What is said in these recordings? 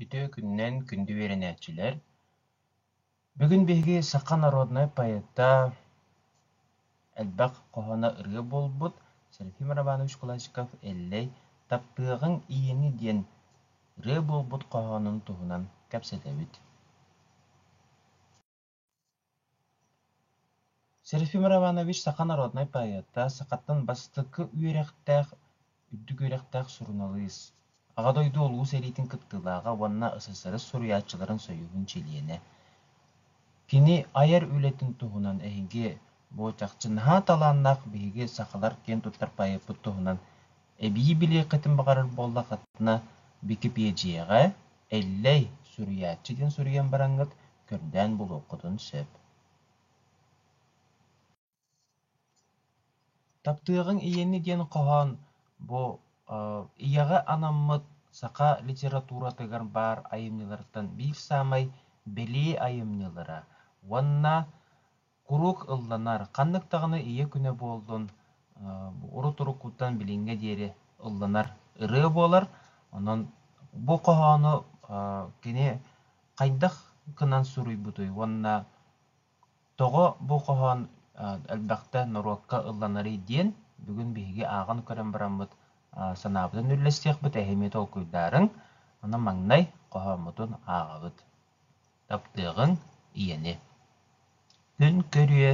Үтүө күнүнэн күндү үөрэнээччилэр! Бүгүн биһиги саха народнай поэта, элбэх хоһооно ырыа буолбут Серафим Романович Кулачков «Эллэй таптыаҕыҥ иини» диэн ырыа буолбут хоһоонун туһунан кэпсэтэбит. Серафим Романович саха народнай поэта, сахаттан бастакы үөрэхтээх, үрдүк үөрэхтээх суруналыыс, Аҕа дойду Улуу сэриитин кыттыылааҕа уонна СССР суруйааччыларын союһун чилиэнэ. Кини айар үлэтин туһунан эһиги бу чахчы наһаа талааннаах биһиги сахалар киэн туттар поэппыт туһунан эбии билиэххитин баҕарар буоллаххытына Бикипиэдьийэҕэ Эллэй, суруйааччы диэн суруйан бараҥҥыт, көрдөөн булуоххутун сөп Таптыаҕыҥ ийэни диэн хоһоон бу ийэҕэ анаммыт саха литературатыгар баар айымньыларыттан биир саамай билии айымньылара уонна Куруук ылланар, ханнык даҕаны ийэ күнэ буоллун, урут-уруккуттан билиҥҥэ диэри ылланар ырыа буолар. Онон бу хоһоону кини хайдах гынан суруйбутуй уонна тоҕо бу хоһоон элбэхтэ норуокка ылланарый диэн бүгүн биһиги ааҕан көрөн бараммыт санаабытын үллэстиэхпит, эһиги толкуйдаарыҥ. Аны маҥнай хоһооммутун ааҕабыт. таптыаҕыҥ ийэни. Күн көрүө,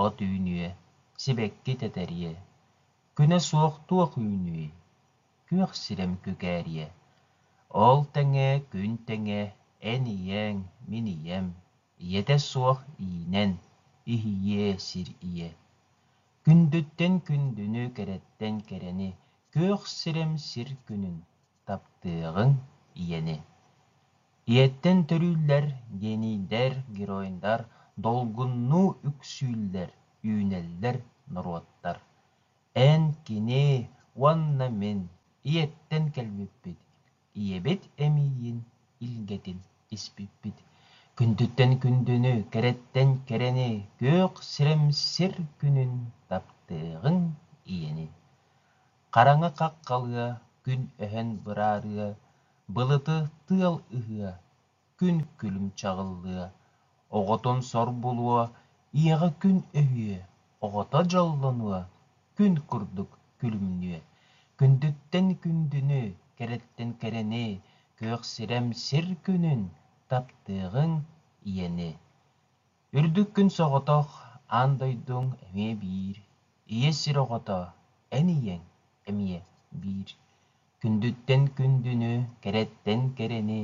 от үүнүө, сибэкки тэтэриэ, күнэ суох туох үүнүүй, күөх сирэм күкээриэ. Ол тэҥэ күн тэҥэ эн ийээҥ, мин ийэм, ийэтэ суох иинэн, иһийиэ сир ийэ. Күндүттэн күндүнү, кэрэттэн кэрэни, күөх сирэм сир күнүн. таптыаҕыҥ ийэни. Ийэттэн төрүүллэр генийдэр, геройдар долгуннуу үксүүллэр, үүнэллэр норуоттар. Эн кини уонна мин ийэттэн кэлбиппит, ийэбит эмиийин илгэтин испиппит. Күндүттэн күндүнү, кэрэттэн кэрэни, күөх сирэмсир күнүн таптыаҕыҥ ийэни. хараҥа хах халыа, күн өһөн быраарыа, былыты тыал ыһыа, күн күлүм чаҕыллыа, оҕотун сор булуо, ийэҕэ күн өһүө, оҕото дьоллонуо, күн курдук күлүмнүө, күндүттэн күндүнү, кэрэттэн кэрэни, күөх сирэм сир күнүн, таптыаҕыҥ ийэни. Үрдүк күн соҕотох аан дойдуҥ эмиэ биир, Ийэ сир оҕото, эн ийэҥ эмиэ биир. Күндүттэн күндүнү, кэрэттэн кэрэни,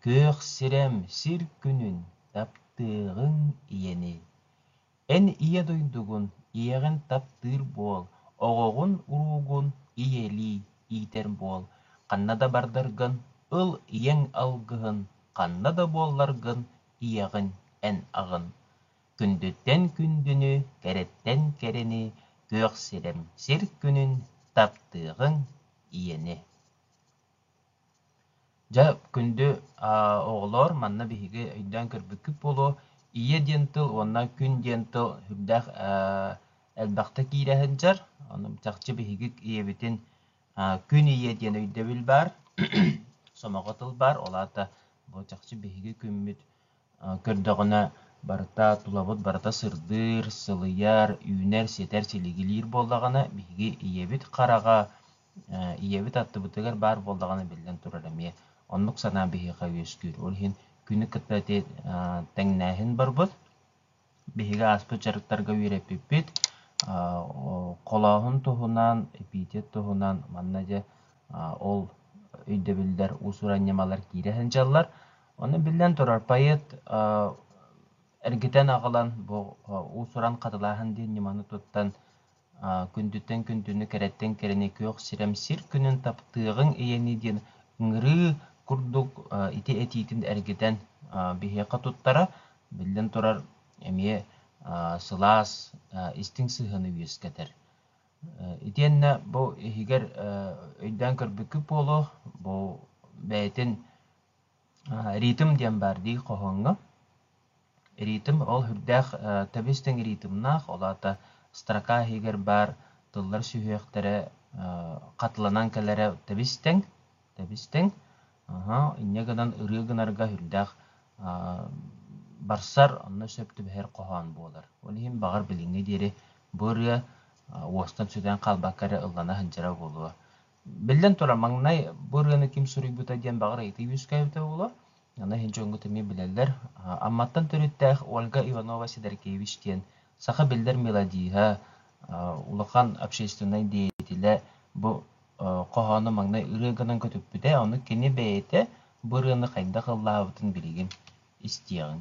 Күөх сирэм сир күнүн таптыаҕыҥ ийэни. Эн ийэ дойдугун, ийэҕин таптыыр буол, Оҕоҕун уруугун ийэлии иитэр буол. Ханна да бардаргын ыл ийэҥ алгыһын, Ханна да буолларгын ийэҕин эн аҕын, күндүттэн күндүнү, кэрэттэн кэрэни, күөх сирэм сир күнүн таптыаҕыҥ ийэни. Дьэ, күндү оҕолоор, манна биһиги өйдөөн көрбүккүт буолуо, ийэ диэн тыл уонна күн диэн тыл сүрдээх элбэхтик иирэ сылдьар. Ону чахчы биһиги ийэбитин Күн ийэ диэн өйдөбүл баар, сомоҕо тыл баар, ол аата бу чахчы биһиги күммүт көрдөҕүнэ барыта тулабыт барыта сырдыыр, сылыйар, үүнэр, ситэр, силигилиир буоллаҕына биһиги ийэбит хараҕа, ийэбит аттыбытыгар баар буоллаҕына биллэн турар эмиэ оннук санаа биһиэхэ үөскүүр. Ол иһин күнү кытта тэҥнээһин барбыт. биһиги ааспыт дьарыктарга үөрэппиппит холооһун туһунан эпитет туһунан манна дьэ ол өйдөбүллэр уусуран ньымалар киирэ сылдьаллар ону биллэн турар поэт эргитэн аҕалан бу уусуран хатылааһын диэн ньыманы туттан күндүттэн күндүнү, кэрэттэн кэрэни күөх сирем сир күнүн таптыаҕыҥ ийэни диэн ыҥырыы курдук ити этиитин эргитэн биһиэхэ туттара. Биллэн турар, эмиэ сылаас, истиҥ сыһыаны үөскэтэр. Итиэннэ бу иһигэр өйдөөн көрбүккүт буолуо, бу бэйэтин ритм диэн баар дии хоһооҥҥо. Ритм ол үрдээх тэбис тэҥ ритмнаах, ол аата строка иһигэр баар тыллар сүһүөхтэрэ хатыланан кэлэрэ тэбис тэҥ, тэбис тэҥ. инньэ гынан ырыа гынарга үрдээх барсар, онно сөп түбэһэр хоһоон буолар. Ол иһин баҕар билиҥҥэ диэри бу ырыа уостан сүтэн хаалбакка эрэ ыллана сылдьара буолуо. Биллэн турар, маҥнай бу ырыаны ким суруйбута диэн баҕар ыйытыы үөскээбитэ буолуор. Аны иһин дьоҥҥут эмиэ билэллэр. Амматтан төрүттээх Ольга Иванова-Сидоркевич диэн саха биллэр мелодиһа, улахан общественнай деятелэ бу хоһоону маҥнай ырыа гынан көтүппүтэ. Ону кини бэйэтэ бу ырыаны хайдах ыллаабытын билигин истиэҕиҥ.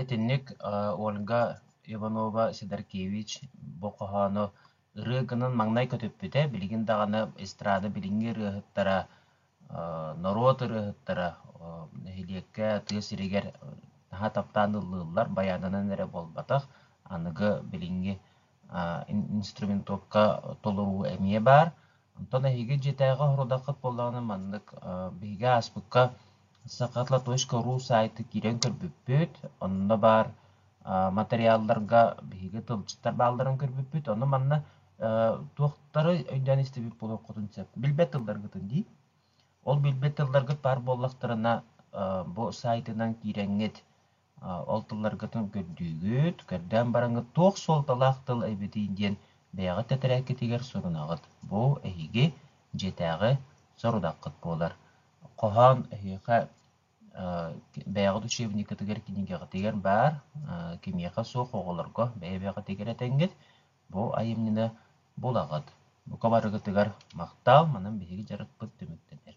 Итинник Ольга Иванова-Сидоркевич бу хоһоону ырыа гынан маҥнай көтүппүтэ, билигин даҕаны эстрада билиҥҥи ырыаһыттара, норуот ырыаһыттара нэһилиэккэ, тыа сиригэр наһаа таптаан ыллыыллар, байаанынан эрэ буолбатах, аныгы билиҥҥи инструментовка толоруу эмиэ баар. Онтон эһиги дьиэтээҕи соруодаххыт буоллаҕына маннык биһиги ааспыкка сахатлатойска.ру саайты киирэн көрбүппүт. Онно баар матырыйаалларга биһиги тылдьыттар баалларын көрбүппүт. Ону манна туохтары өйдөөн истибит буолуоххутун сөп. Билбэт тылларгытын дии. Ол билбэт тылларгыт баар буоллахтарына бу саайтынан киирэҥҥит Ол тылларгытын көрдүүгүт, көрдөөн бараҥҥыт туох суолталаах тыл эбитий диэн бэйэҕит тэтэрээккитигэр сурунаҕыт. Бу эһиги дьиэтээҕи сорудаххыт буолар. Хоһоон эһиэхэ бэйэҕит учебниккытыгар, кинигэҕитигэр баар, кимиэхэ суох оҕолорго бэйэ-бэйэҕитигэр этэҥҥит. Бу айымньыны булаҕыт. Бука барыгытыгар махтаал, манан биһиги дьарыкпыт түмүктэнэр.